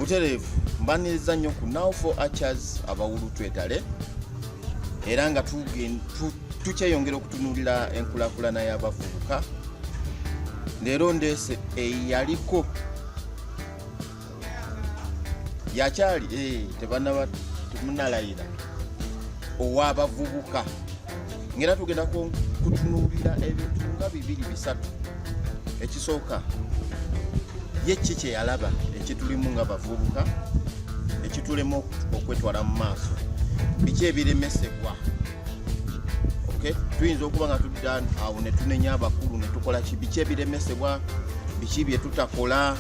butereevu mbaniriza nnyo ku now for archers abawulu twetale era nga tukyeyongera okutunuulira enkulakulana y'abavubuka leero ndeese eyaliko yakyali eh, tebanaba munalayira owabavubuka ngaera tugenda kutunuulira ebintu nga bibiri bisatu ekisooka ye ki kyeyalaba ekitulimu nga bavubuka ekitulemu okwetwala mu maaso biki ebiremesebwa tuyinza okuba nga tudda awo netunenya abakulu netukola ki biki ebiremesebwa biki byetutakola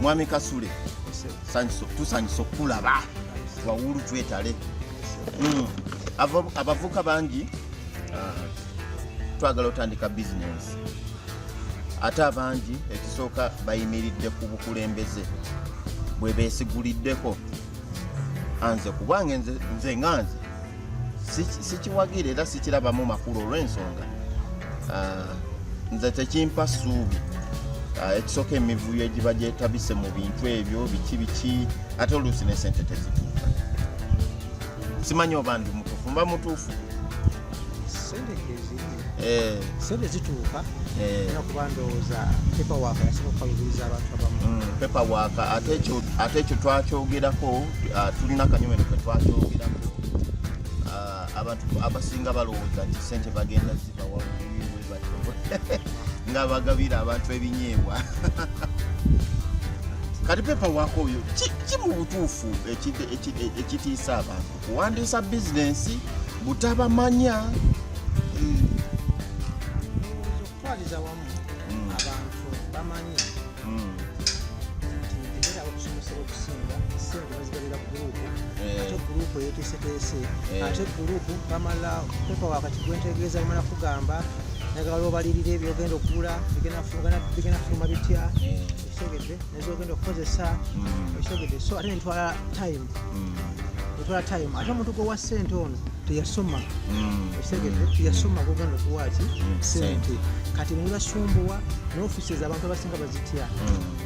mwami kasule tusanyusa okukulaba wawulu twetale hmm. abavuka bangi ah, twagala otandika bizinesi ate abangi ekisooka bayimiridde ku bukulembeze bwe beesigulideko anze kubwange nze, nze nga nze sikiwagira era sikirabamu makulu olw'ensonga uh, nze tekimpa ssuubi uh, ekisooka emivuyo egiba gyetabise mu bintu ebyo biki biki ate oluusi ne sente tezituuka simanyi oba ndi mutuufu mba mutuufu Eh. sente zituuka eh. era kuba ndowooza pepawaaka yasobola okukalubiriza abantu abamu mm, pepawaaka ate ekyo twakyogerako ah, tulina kanyomero ke twakyogerako ah, abantu abasinga balowooza nti sente bagenda zibawawebatyo nga bagabira abantu ebinyeebwa kati pepawaaka oyo ki mu butuufu ekitiisa abantu kuwandiisa bizinensi butabamanya hmm. okutwaliza wamu hmm. abantu bamanyi hmm. era okusomesera okusinga sente bazigalira gurupu eh. ate gurupu eyeteeseteese eh. ate gurupu bamala pepa wakati gwentegeeza bamala kugamba nagala obalirira ebyogenda okugula bigenda kufuluma bitya eh. ekitegedde ezogenda okukozesa mm. ekisogede so ate netwala time mm. etwala time ate omuntu gwewa sente ono teyasoma mm. ekisegede teyasoma gogenda okuwaki sente kati nebasumbuwa nofiisi ezabantu abasinga bazitya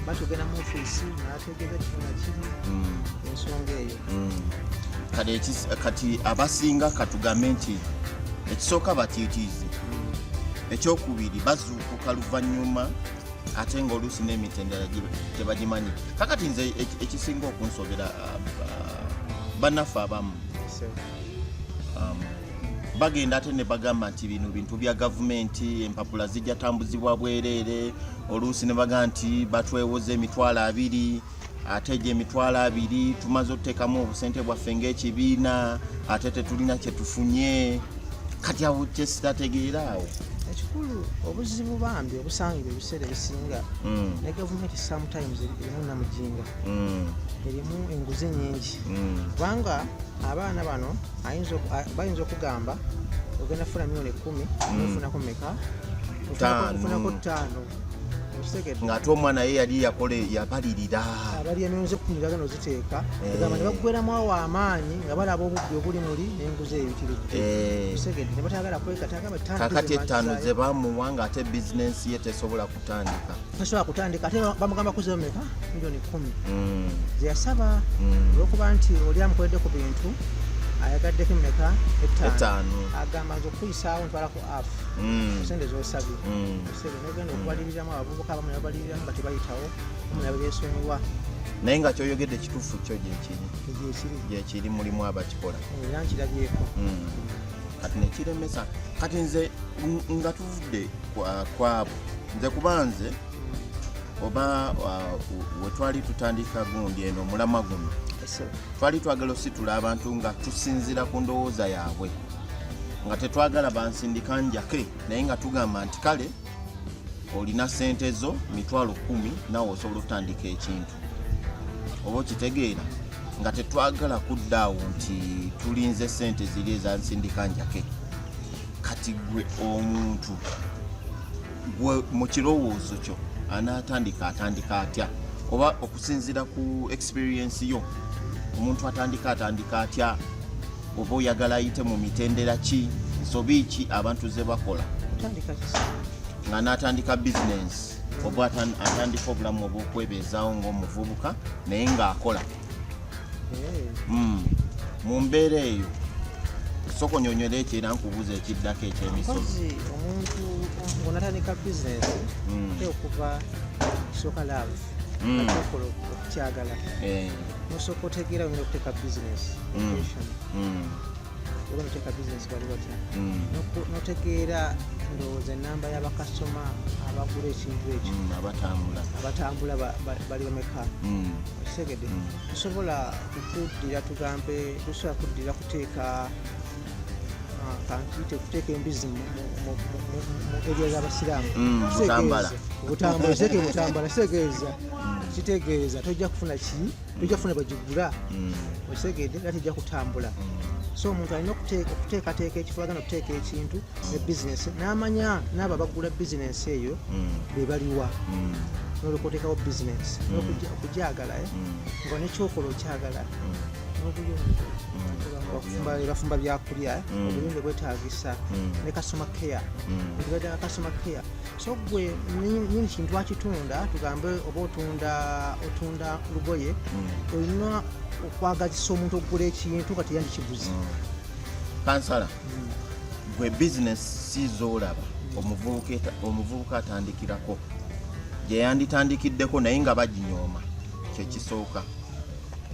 batugenda mu ofiisi nategeza kifuna kiri ensonga eyo kati abasinga katugambe nti ekisooka batiitiize ekyokubiri bazuukuka luvannyuma ate nga oluusi n'emitendera tebagimanyi kakati nze ekisinga okunsobera uh, uh, banaffe abamu um, bagenda ate ne bagamba nti bino bintu bya gavumenti empapula zijja tambuzibwa bwereere oluusi ne bagamba nti batwewoza emitwalo abiri ate egyo emitwalo abiri tumaze otuteekamu obusente bwaffe ng'ekibiina ate tetulina kyetufunye kati awo kyesitategeera awo ekikulu obuzibu bambi obusangibwa ebiseera ebisinga mm. ne gavumenti sometimes erimu namujinga mm. erimu enguzi nyingi mm. kubanga abaana bano bayinza okugamba ogenda funa milioni ekumi ofunako meka ofunako ttaano ng'ate omwana ye yali yakola yabalirira abali emyoyo z'okutuniraga no ziteeka eh. egamba ne baggweramu awo amaanyi nga balaba obubbi obuli muli n'enguzi eyitiridde eh. segedde ne batayagala kwekatagakakati ettaano ze bamuwa ng'ate bizinensi ye tesobola kutandika tasobola kutandika ate bamugamba kuzeyo meka milioni kumi mm. zeyasaba mm. olwokuba nti oli amukoledde ku bintu ayagaddeko emeka ettaano agamba nze okukuyisaawo ntwalako afu mm. sente zosabye Sebinogenda okubaliriramu abavubuka abamu yabaliriramu nga tebayitawo abamu yabeesonyiwa naye nga kyoyogedde kituufu kyo gyekiri gyekiri mulimu abakikola era nkirabyeko hmm. kati nekiremesa kati nze nga tuvudde kwabo nze kuba nze oba wetwali tutandika gundi eno omulamwa guno twali twagala ositula abantu nga tusinzira ku ndowooza yaabwe nga tetwagala bansindika njake naye nga tugamba nti kale olina sente zo mitwalo kumi nawe osobola okutandika ekintu oba okitegeera nga tetwagala kudda awo nti tulinze sente ziri ezansindika njake kati gwe omuntu gwe mu kirowoozo kyo anaatandika atandika atya oba okusinziira ku experiensi yo omuntu atandika atandika atya oba oyagala ayite mu mitendera ki nsobi ki abantu ze bakola nga n'atandika bizinensi oba atandika obulamu obw'okwebeezaawo ng'omuvubuka naye ng'akola eh. hmm. mu mbeera eyo soko nyonyola ekyo era nkubuuza ekiddako ekyemisozi omuntu ngonatandika bizinesi hmm. okuva soka laavu hmm. okola okukyagala eh. nosooka otegeera oyinza okuteeka bizinesi oba noteeka bizinesi bali batya notegeera ndowooza enamba yabakasitoma abagula ekintu ekyo mm, abatambula bali bameka mm. okitegede mm. tusobola kukuddira tugambe tusobola kuddira kuteeka ah, kankite kuteeka embizi mu eriya zabasiraamu obutambula kitegeeza kitegeeza tojja kufuna ki tojja kufuna bagigula mm. okitegedde era tejja kutambula mm. so omuntu alina okuteekateeka ekifo agenda okuteeka ekintu ne mm. bizinesi n'amanya n'abo abagula bizinesi eyo be baliwa nolyoka otekawo bizinesi okugyagala eh? nga nekyokola okyagala n'obuyonjo bafumba byakulya eh? obuyonjo bwetagisa ne kasoma care ebibadde kasoma care so gwe nyini kintu akitunda tugambe oba otunda otunda lugoye hmm. olina okwagazisa omuntu okugula ekintu kati yandikiguzi hmm. kansala hmm. gwe bizinesi sizoolaba omuvubuka atandikirako gye yanditandikiddeko naye nga baginyooma kyekisooka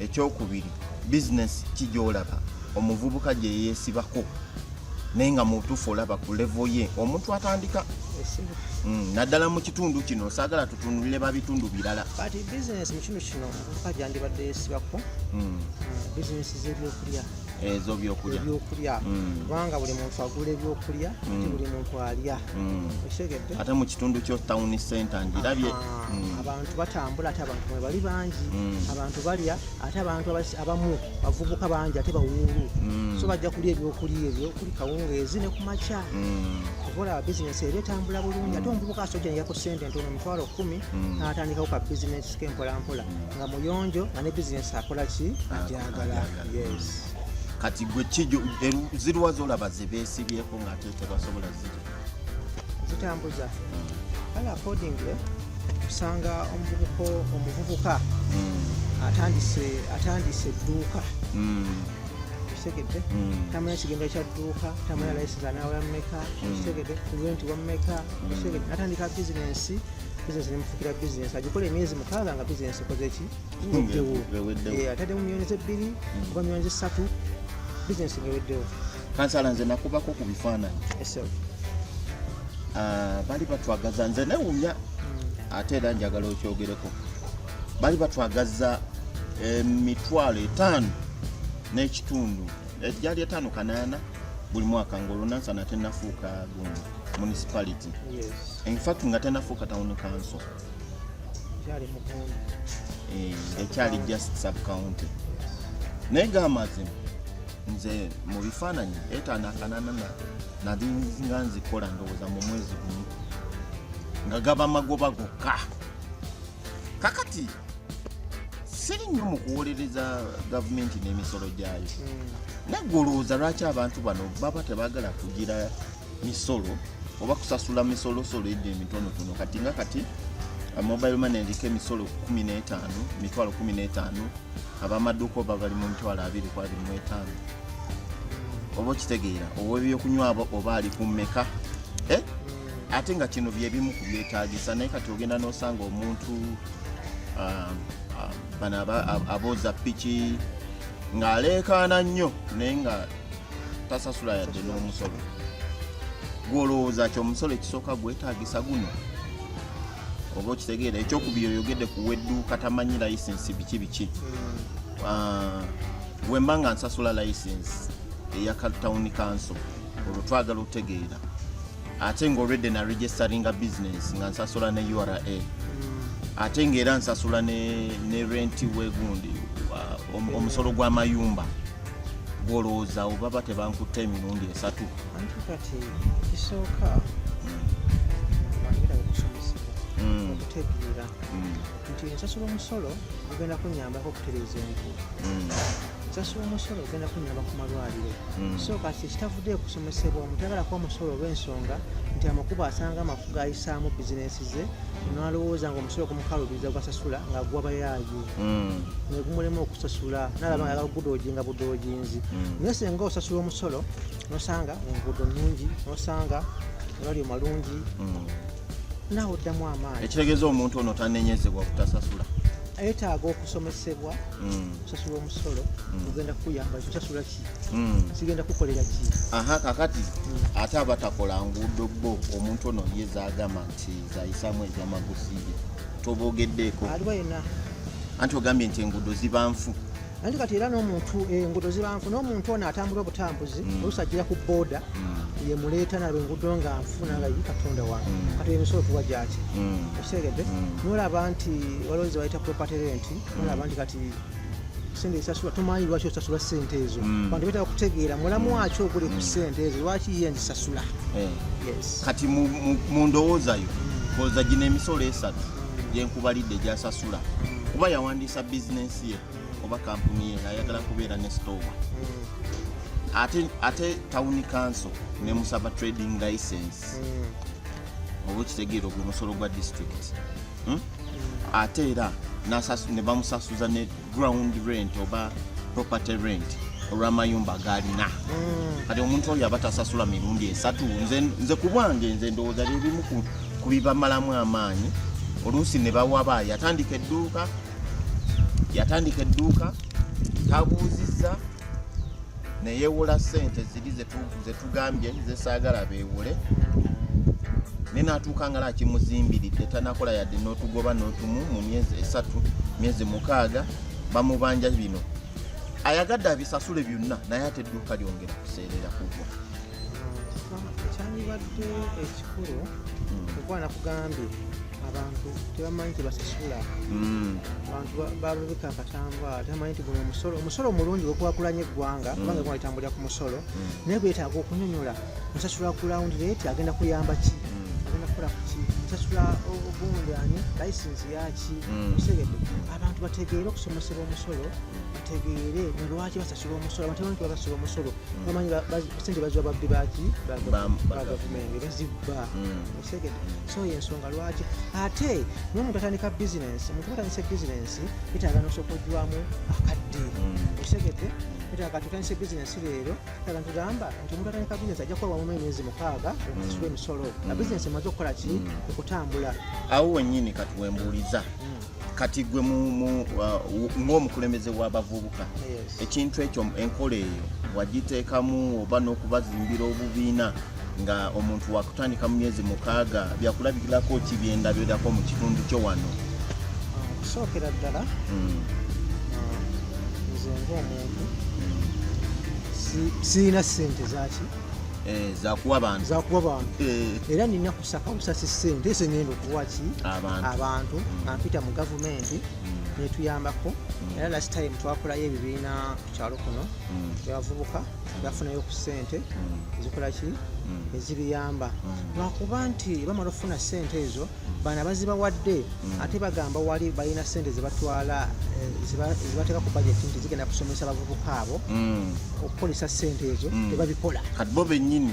ekyokubiri bizinesi kigyolaba omuvubuka gye yeesibako naye nga mutuufu olaba ku levo ye omuntu atandika mm, naddala mu kitundu kino saagala tutunulire ba bitundu birala kati bizinesi mu kitundu kino omuvubuka gyandibadde yeesibako mm. mm, bizinesi z'ebyokulya ezo byokulya kubanga buli muntu agula ebyokulya buli muntu alya Mm. ate mu kitundu kyo town center ngirabye mm. abantu batambula ate abantu bali bangi mm. abantu balya ate abantu abamu bavubuka bangi ate bawuulu so bajja kulya ebyokulya ebyo kuli kawungeezi ne kumakya okola bizinesi eba etambula bulungi ate omuvubuka asoja neyako sente ntono mitwalo kumi mm. natandikawo ka bizinesi ke mpolampola nga muyonjo nga ne bizinesi akola ki ajagala yes kati gwe kijo ziruwa zolaba zebesibyeko ngate tebasobola zitambuza kale accordingly kusanga omuvubuka omuvubuka hmm. atandise atandise edduuka hmm. kitegedde hmm. tamanya kigendo kya dduuka tamanya layisiza nawe yamumeka kitegedde kulwenti wamumeka kitegedde atandika bizinensi bizinesi nemufukira bizinesi agikola emyezi mukaaga nga bizinesi ekoze ki ngeddewo eh, atadde mu myonzi ebbiri oba myonzi ssatu bizinesi ngeweddewo kansala nze nakubako ku bifaananyi ah, bali batwagaza nze newunya hmm. ate era njagala okyogereko bali batwagaza emitwalo eh, etaano n'ekitundu egyali eh, etaano kanaana buli mwaka ngaolunansa natenafuuka gundi municipality infact nga tenafuuka town council Eh, ekyali just sub county naye gamazima nze mu bifaananyi etanakananana nali nga nzikola ndowooza mu mwezi gumu nga gaba magoba gokka kakati siri nnyo mu kuwolereza gavumenti n'emisolo gyayo hmm. naggwe olowooza lwaki abantu bano baba tebagala kugira misolo oba kusasula misolosolo egyo emitonotono kati nga kati mobile money eriko emisolo 15 mitwalo 15 abamaduuka oba bali mu mitwalo 225 oba okitegeera owebyokunywabo oba ali ku mmeka eh? ate nga kino byebimu ku byetagisa naye kati ogenda nosanga omuntu ah, ah, bano abooza piki ng'aleekaana nnyo naye nga tasasula yadde n'omusolo gwolowooza ki omusolo ekisooka gwetagisa guno oba okitegeera ekyokubiri oyogedde ku wedduuka tamanyi layisinsi biki biki hmm. ah, wemba nga nsasula layisinsi eya tawuni kanso olwo twagala okutegeera ate nga olwedde na registeringa bizinesi nga nsasula ne ura hmm. ate ngaera nsasula ne renti wegundi omusolo gw'amayumba gwolowooza awo baba tebankutta emirundi esatu anti kati ekisooka wangirawo okusomesebwa mm. okutegeera mm. nti ensasula omusolo ogenda kunyambako okutereeza enku mm. ensasula omusolo ogenda kunyamba ku malwaliro so kati ekitavudde okusomesebwa omuntu agala kuba omusolo olw'ensonga nti amakubo asanga amafuga ayisaamu bizinensi ze nalowooza nga omusolo gumukalubiriza gwasasula nga gwabayaayo mm. negumulema okusasula nalaba nga gudoji nga budojinzi mm. naye senga osasula omusolo nosanga enguudo nungi nosanga amalwaliro malungi mm. nawe oddamu amaanyi ekitegeeza omuntu ono tanenyezebwa kutasasula ayetaaga okusomesebwa mm. osasula omusolo mm. ogenda kukuyamba osasula ki mm. sigenda kukolera ki aha kakati ate abatakola nguudo bo omuntu ono ye zagamba nti zayisamu ezamagusiye tobogeddeeko aliwa yena anti ogambye nti enguudo ziba nfu anti kati era n'omuntu eh, enguudo ziba nfu n'omuntu ono atambula obutambuzi mm. oluusi ajjira ku booda mm. yemuleeta nalwo enguudo nga nfu nanga yi katonda wange mm. kati emisolo tuwa gyaki okitegedde nolaba nti waliwo ze bayita property rent nolaba nti kati sente esasula tomanyi lwaki osasula sente ezo mm. bantu betaka kutegeera mulamu mm. waki ogule ku mm. sente ezo lwaki ye nzisasula eh. kati mu ndowooza yo koza gino emisolo esatu gyenkubalidde gyasasula kuba yawandiisa bizinensi ye oba kampuni ye ayagala kubeera ne sitowa ate ate tawuni kanso nemusaba trading license oba okitegeera ogwe musolo gwa disitulikiti hmm? ate era ne bamusasuza ne ground rent oba property rent olw'amayumba gaalina hmm. kati omuntu oyo aba tasasula mirundi esatu nze ku bwange nze ndowooza byebimu ku bibamalamu amaanyi oluusi ne bawaba yatandika edduuka yatandika edduuka tabuuzizza neyewola sente ziri zetugambye zesaagala bewole naye natuuka nga lakimuzimbiridde tanakola yadde notugoba notumu mu myezi esatu myezi mukaaga bamubanja bino ayagadde abisasule byonna naye ate edduuka lyongera kuseerera kugwa ekyandibadde ekikulu hmm. okuba nakugambye abantu tebamanyi tebasasula hmm. abantu balubika akatambaala tebamanyi nti guno omusolo omusolo omulungi wekwakulanya eggwanga hmm. kubanga eggwanga litambulira ku musolo hmm. naye gwetaaga okunyonyola nsasula ku lawundi leeti agenda kuyamba ki agenda kukola kuki nsasula ogundi ani layisinsi yaki osegedde abantu bategeere okusomesebwa omusolo bategeere nolwaki basasula omusolo abantu tebamanyi tebasasula omusolo bamanyi sente baziwa babbi baki ba gavumenti bazibba segede so yensonga lwaki ate nomuntu atandika bizinensi omuntu batandise bizinensi bitaaga nosokojwamu akadde mm. osegede bitaaga tutandise bizinensi leero taga ntugamba nti omuntu atandika bizinensi ajja kukola wamu emyezi mukaaga okusula mm. emisolo nga mm. bizinensi emaze okukola ki okutambula awo wenyini katuwembuuliza kati gwe uh, ng'omukulembeze w'abavubuka ekintu ekyo enkola eyo wagiteekamu oba n'okubazimbira obubiina nga omuntu wakutandika mu myezi mukaaga byakulabikirako ki byendabirako mu kitundu kyo wano okusookera ddala hmm. uh, nze ngaomuntu sirina sente zaki eh, zakuwa bantu eh. era nina circumstances same this ngendo kuwaki abantu abantu mm. ampita mu government mm. netuyambako mm. era last time twakolayo ebibiina ku kyalo kuno byavubuka byafunayo ku sente ezikolaki ezibiyamba lwakuba nti bamala okufuna sente ezo bana bazibawadde ate bagamba wali balina sente zebatwala eh, zibateeka ku budget nti zigenda kusomesa abavubuka abo okukolesa sente ezo tebabikola kati bo benyini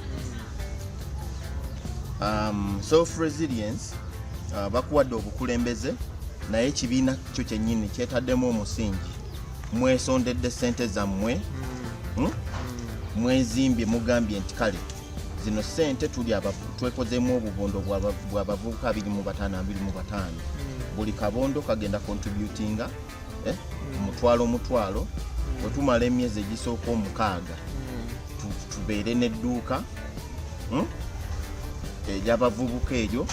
um, self resilience uh, bakuwadde obukulembeze naye ekibiina kyo kyennyini kyetaddemu omusingi mwesondedde ssente zammwe hmm? Hmm? mwezimbye mugambye nti kale zino ssente tuli twekozemu obubondo bw'abavubuka 25 hmm. buli kabondo kagenda contributinga eh, tumutwala omutwalo mm. wetumala emyezi egisooka omukaaga mm. tubeere n'edduuka hmm, egyabavubuka eryo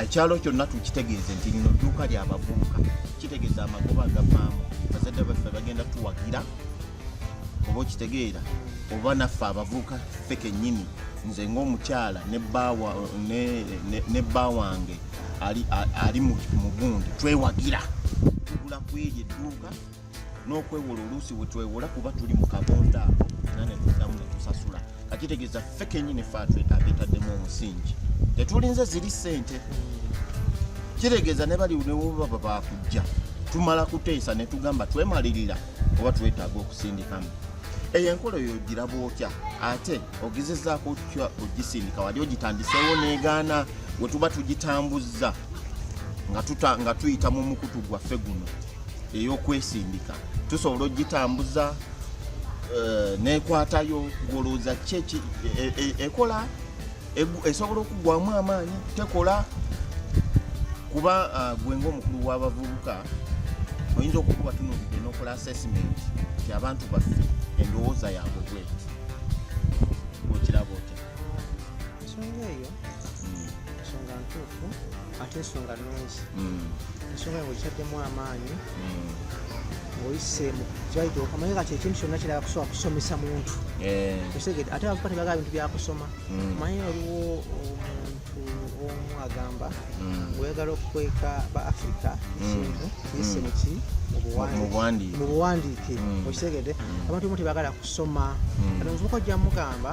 ekyalo kyonna tukitegeeze nti lino dduuka lyabavubuka kitegeeza amagoba agavaamu bazadde baffe bagenda tuwagira oba okitegeera oba naffe abavubuka ffe kennyini nze ng'omukyala ne bba wange ali, ali mu gundi twewagira tugula kweri edduuka n'okwewola oluusi wetwewola kuba tuli mu kabonda ako era netuddamu netusasula kakitegeeza ffe kenyini fe abetaddemu omusingi tetulinze ziri sente kitegeeza ne bali newobaba bakujja tumala kuteesa netugamba twemalirira oba twetaaga okusindikamu eyo enkola oyo ogira bwotya ate ogezezaako otya ogisindika wali ogitandiseewo negaana we tuba tugitambuzza nga tuyita mu mukutu gwaffe guno ey'okwesindika tusobola ogitambuza eh, nekwatayo ngolowooza kyeki e, e, ekola esobola okugwamu amaanyi tekola kuba ah, gwe ngaomukulu w'abavubuka oyinza okukuba tunulidde n'okola assessment ti abantu baffe endowooza yaabwe bweti okiraba otya ensonga ntuufu ate ensonga nungi hmm. ensonga nga okitaddemu amaanyi hmm. ngaoyise mukyayita okamanye kati ekintu kyonna kirala kusobola kusomesa muntu eh. osegede ate abavuka tebagala bintu byakusoma hmm. manye waliwo omuntu omu agamba oyagala okukweka ba africa ekintu yise muki mu buwandiike okisegede abantu omu tebagala kusoma kati omuvuka ojja mugamba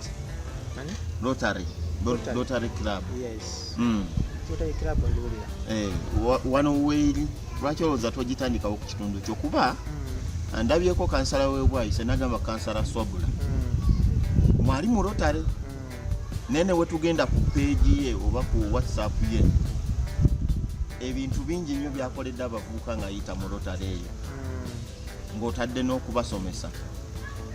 Rotary. Rotary. Rotary Club. Yes. Mm. Rotary Club ngiwulira. Eh, wano weeri lwaki olowooza togitandikawo ku kitundu kyo kuba mm. ndabyeko kansala webwayise nagamba kansala swabula mm. mwali mu Rotary mm. naye ne wetugenda ku peegi ye oba ku whatsapp ye ebintu bingi nnyo byakoledde abavubuka ng'ayita mu Rotary eyo ng'otadde n'okubasomesa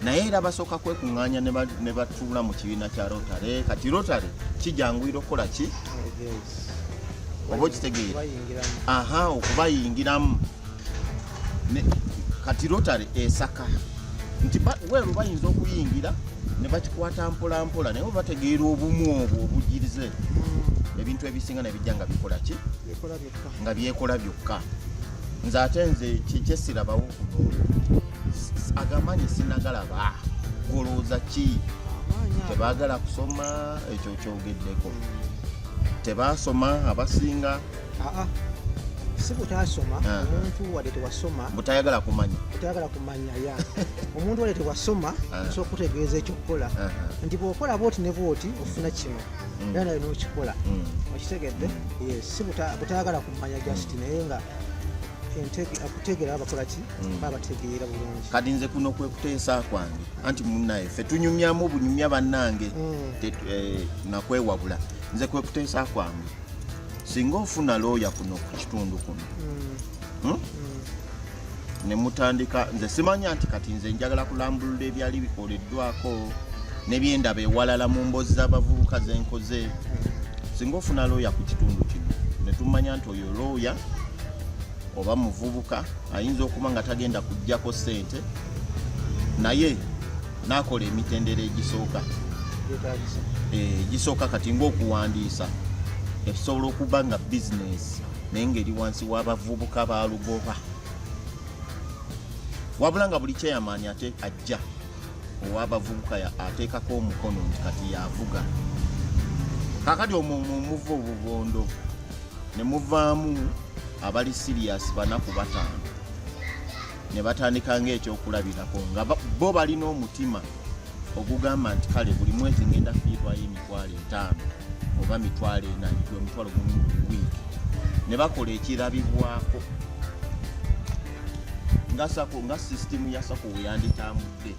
naye era basooka kwekuŋŋaanya ne batuula mu kibiina kya rotary kati rotary kijanguyira okukola ki oba okitegeera aha okubayingiramu kati rotary esaka nti weeru bayinza okuyingira ne bakikwata mpolampola naye obategeera obumu obwo obugirize hmm. ebintu ebisinga nebijja nga bikola ki nga byekola byokka nze ate nze kyekyesirabawo kuno agamaanyi sinagalaba golooza ki tebagala kusoma ekyo kyogeddeko tebasoma abasinga si butasoma ah. omuntu wadde tewasoma butayagala kumanya butayagala kumanya ya omuntu wadde tewasoma ah. osobola okutegeeza ekyokukola ah. nti bwokola bwoti ne bwoti ofuna kino mm. era naye nokikola mm. okitegedde mm. yes si butayagala kumanya just naye nga akutegera abakola ki babategeera bulungi kati nze kuno kwekuteesa kwange anti munaye fe tunyumyamu bunyumya bannange eh, nakwewabula nze kwekuteesa kwange singa ofuna looya kuno ku kitundu kuno hmm? nemutandika nze simanya nti kati nze njagala kulambulula ebyali bikoleddwako nebyendaba ewalala mu mbozi z'abavubuka zenkoze singa ofuna looya ku kitundu kino netumanya nti oyo looya oba muvubuka ayinza okuba nga tagenda kujjako sente naye nakola emitendera egisooka egisooka eh, kati ngaokuwandiisa ekisobola okuba nga bizinesi naye ng'eri wansi w'abavubuka ba lugoba wabula nga buli kyeyamaanyi ate ajja ow'abavubuka ateekako omukono nti kati yavuga kakati omumuva obubondo ne muvaamu abali siriyasi banaku bataano ne batandika ng'ekyokulabirako nga bo balina omutima ogugamba nti kale buli mwezi ngenda fiirwayo emitwalo etaano oba mitwalo ena omitwalo gumu buli wiiki ne bakola ekirabibwako nga sako nga sisitimu ya sako weyanditambudde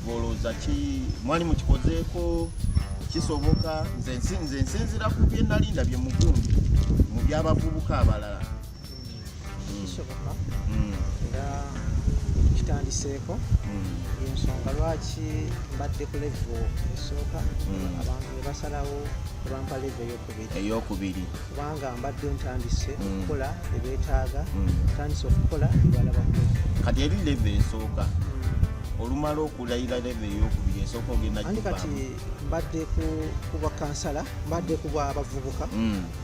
olowooza ki mwali mukikozeeko kisoboka nze nsinzira ku bye nali ndabye mugundi mu byabavubuka abalala kisoboka mm. era kitandiseeko mm. yensonga lwaki mbadde ku levo esooka mm. abantu nebasalawo ebampa levo eyokubiri kubanga mbadde ntandise okukola ebetaaga ntandise okukola ebalaba kati eri levo esooka olumala okulayira leve eyokubiri esooka ogenda kati mbadde ku bakansala mbadde ku bwabavubuka mm.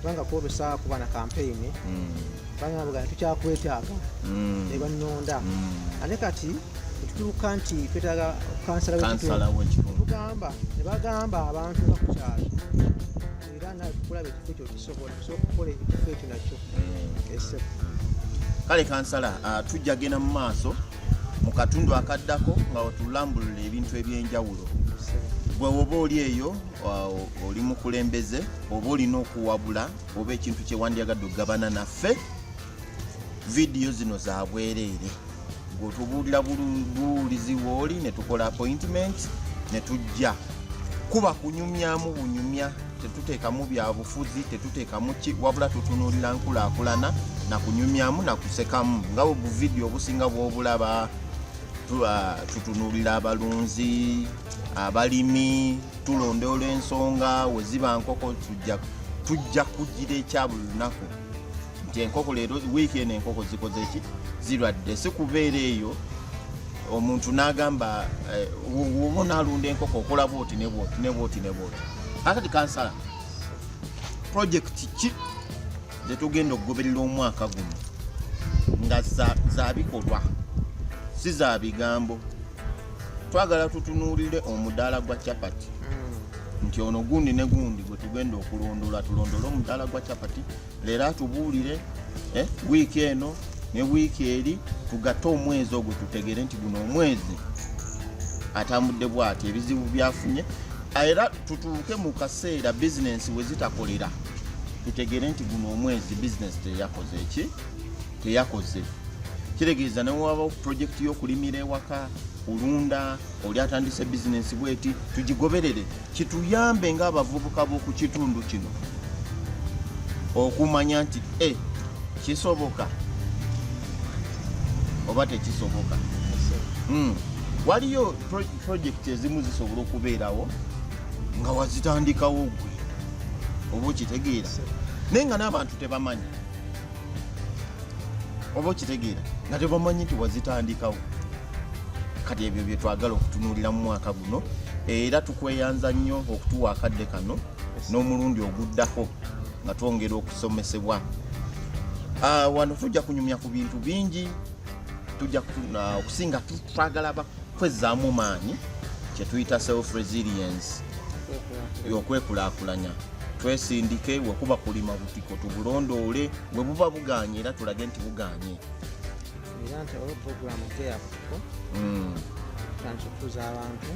kubanga kwolesa kuba na kampeyini hmm. kubanga bugana tukyakwetaaga hmm. ne bannonda hmm. ate kati etutuuka nti twetaaga kansala wekitundu tugamba ne bagamba abantu nga kukyalo era nakulaba ekifo ekyo kisobola tusobola okukola ekifo ekyo nakyo esefu kale kansala ah, tujja genda mu maaso mu katundu akaddako nga watulambulula ebintu ebyenjawulo gwe woba oli eyo oli mukulembeze oba olina okuwabula oba ekintu kyewandyagadde okugabana naffe vidiyo zino zabwereere gwetubuulira buwulizi wooli netukola appointment netujja kuba kunyumyamu bunyumya tetuteekamu byabufuzi tetuteekamu ki wabula tutunuulira nkulaakulana nakunyumyamu nakusekamu nga obuvidiyo obusinga bwobulaba tutunuulira abalunzi abalimi tulondoola ensonga weziba nkoko tujja kugira ekya buli lunaku nti enkoko leero wiiki eno enkoko zikoze ki zirwadde si kubeera eyo omuntu n'agamba eh, woba onaalunda enkoko okola bwoti nebwoti nebwoti nebwoti akati kansala projekiti ki zetugenda okugoberera omwaka guno nga zabikolwa si za bigambo twagala tutunuulire omudaala gwa chapati hmm. nti ono gundi ne gundi gwe tugenda okulondoola tulondole omudaala gwa chapati leero atubuulire eh, wiiki eno ne wiiki eri tugatte omwezi ogwo tutegere nti guno omwezi atambudde bwati ebizibu byafunye era tutuuke mu kaseera bizinensi we zitakolera tutegere nti guno omwezi bizinensi teyakoze eki teyakoze kitegeeza newabawo pulojekiti y'okulimira ewaka kulunda oli atandise bizinensi bweti tugigoberere kituyambe ngaabavubuka b'oku kitundu kino okumanya nti e kisoboka oba tekisoboka hmm. waliyo pulojekiti ezimu zisobola okubeerawo nga wazitandikawo gwe oba okitegeera naye nga n'abantu tebamanyi oba okitegeera nga tebamanyi nti wazitandikawo kati ebyo bye twagala okutunuulira mu mwaka guno era tukweyanza nnyo okutuwa akadde kano n'omulundi oguddako nga twongera okusomesebwa ah, wano tujja kunyumya ku bintu bingi tujja ah, okusinga twagala bakwezaamu maanyi kyetuyita self resilience y'okwekulakulanya twesindike wekuba kulima butiko tubulondoole bwe buba buganye era tulage nti buganye era nti olwo puroguramu teya butiko mm. tutandise okutuuza abantu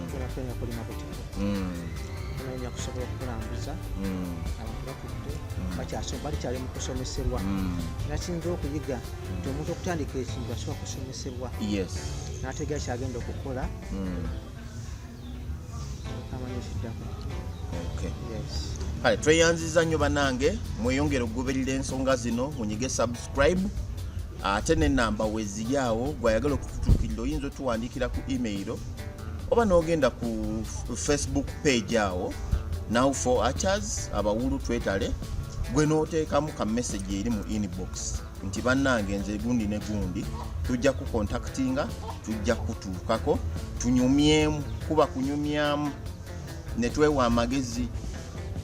tulakwenya mm. kulima butiko tunonya mm. kusobola okukulambuza abantu batudde balikyali mu kusomeserwa era kiyinza okuyiga nti omuntu okutandika ekintu asobola kusomeserwa n'ategeera kyagenda okukola kale tweyanziza nnyo banange mweyongere okugoberera ensonga zino munyige subscribe ate nenamba weziri awo gwayagala okututukirira oyinza otuwandiikira ku email oba nogenda ku facebook page awo now for achers abawulu twetale gwe noteekamu ka message eri mu inbox nti bannange nze gundi ne gundi tujja kukontaktinga tujja kutuukako tunyumyemu kuba kunyumyamu ne twewa amagezi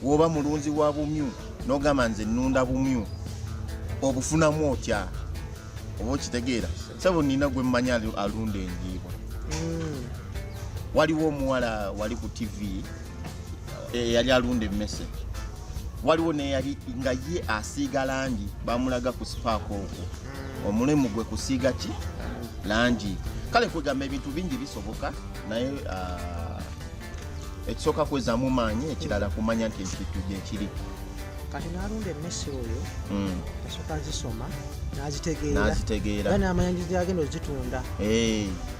woba mulunzi wa bumyu nogamba nze nunda bumyu obufunamu otya oba okitegeera sabo nina gwe mmanyi alunda enjiibwa hmm. waliwo omuwala wali ku tv eyali eh, alunda emmese waliwo neyali nga ye asiiga langi bamulaga ku sipaaka okwo hmm. omulimu gwe kusiiga ki langi kale kwegamba ebintu bingi bisoboka naye ah, ekisooka kwezamu maanyi ekirala kumanya nti ekintu gyekiri kati nalunda emmese oyo hmm. asooka azisoma nazitegeera nazitegeera namanya nti agenda ozitunda eh.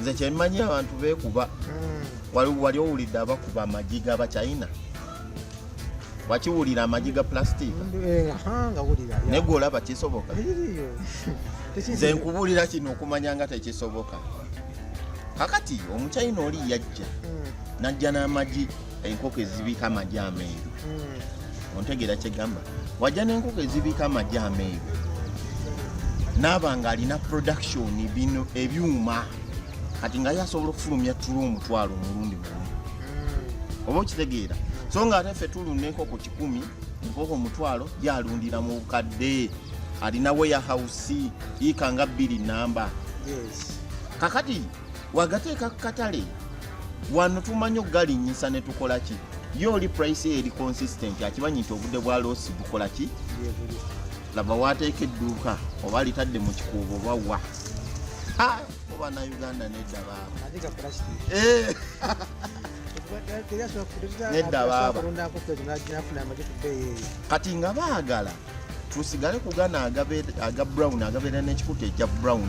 nze kyemanyi abantu bekuba hmm. wali owulidde abakuba amagi gabachina wakiwulira amagi ga plastic eh, naye gwe olaba kisoboka nze nkubuulira kino okumanya nga tekisoboka kakati omuchina oli yajja hmm. najja n'amagi enkoko ezibiika amagi ameeru hmm. ontegeera kyegamba wajja n'enkoko ezibiika amagi ameeru naaba nga alina production bino ebyuma kati nga ye asobola okufulumya tula omutwalo omulundi gumu hmm. oba okitegeera so nga ate ffe tulunda enkoko kikumi enkoko omutwalo yalundira mu bukadde alina weyahausi yiika nga bbiri namba kakati yes. wagateeka ku katale wano tumanyi okugalinnyisa ne tukola ki ye oli price eyo eri consistent akimanyi nti obudde bwa loosi bukola ki laba wateeka edduuka oba alitadde mu kikuubo oba wa oba na uganda nedda baaba eh. nedda baaba kati nga baagala tusigale kugana aga brown agabeera n'ekikuta ekya brown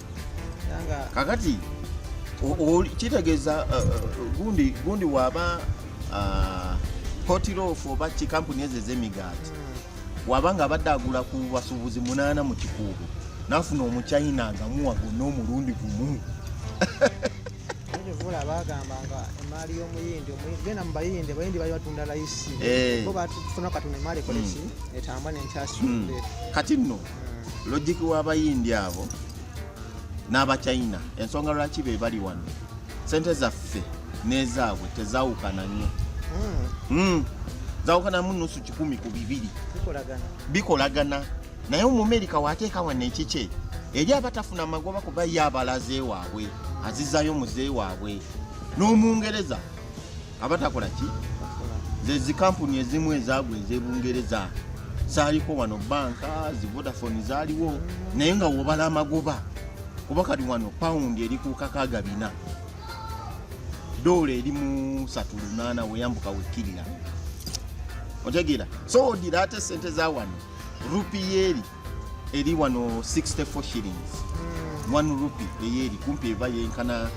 kakati kitegeeza uh, uh, gundi gundi waba uh, hotirof oba ki kampuni ezo ezemigaati hmm. waba nga abadde agula ku basuubuzi munaana mu kikuubo nafuna omuchina agamuwa gonna omulundi gumu vula bagamba nga emaali y'omuyindi genda mu bayindi abayindi bali batunda layisi eh. bo batufuna katuna emaali koleki hmm. etambwa nenkyasudde hmm. kati nno logic w'abayindi abo n'abachina ensonga lwaki be bali wano sente zaffe n'ezaabwe tezawukana nnyo hmm. Hmm. zawukanamu nusu kikumi ku bibiri bikolagana naye omumerika wateeka wano ekikye eri abatafuna magoba kuba ye abalaze waabwe azizayo muze waabwe n'omungereza abatakola ki ze zikampuni ezimu ezaagwa ez'ebungereza zaaliko wano banka zi vodafone zaaliwo naye nga wobala amagoba kuba kati wano pawundi eri ku kakaaga bina doola eri mu satu lunaana weyambuka wekkirira otegeera so odira ate sente za wano rupiyeeri eri wano 64 shillings mm. one rupee eyeri kumpi eva yenkana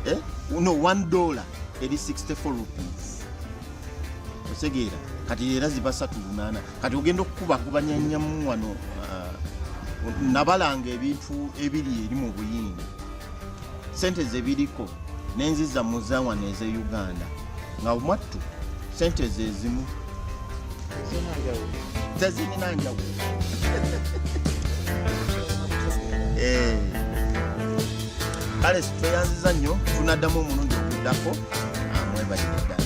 eh? no one dollar eri 64 rupees otegeera kati era ziba satu lunaana kati ogenda okukubakubanyanyamu wano uh, nabalanga ebintu ebiri eri mu buyindi sente zebiriko nenziza muzawano eze uganda nga mwattu sente zezimu tezirina njawulo eh. kale tweyanziza nnyo tunaddamu omulundi oguddako amwebalire ah, ddala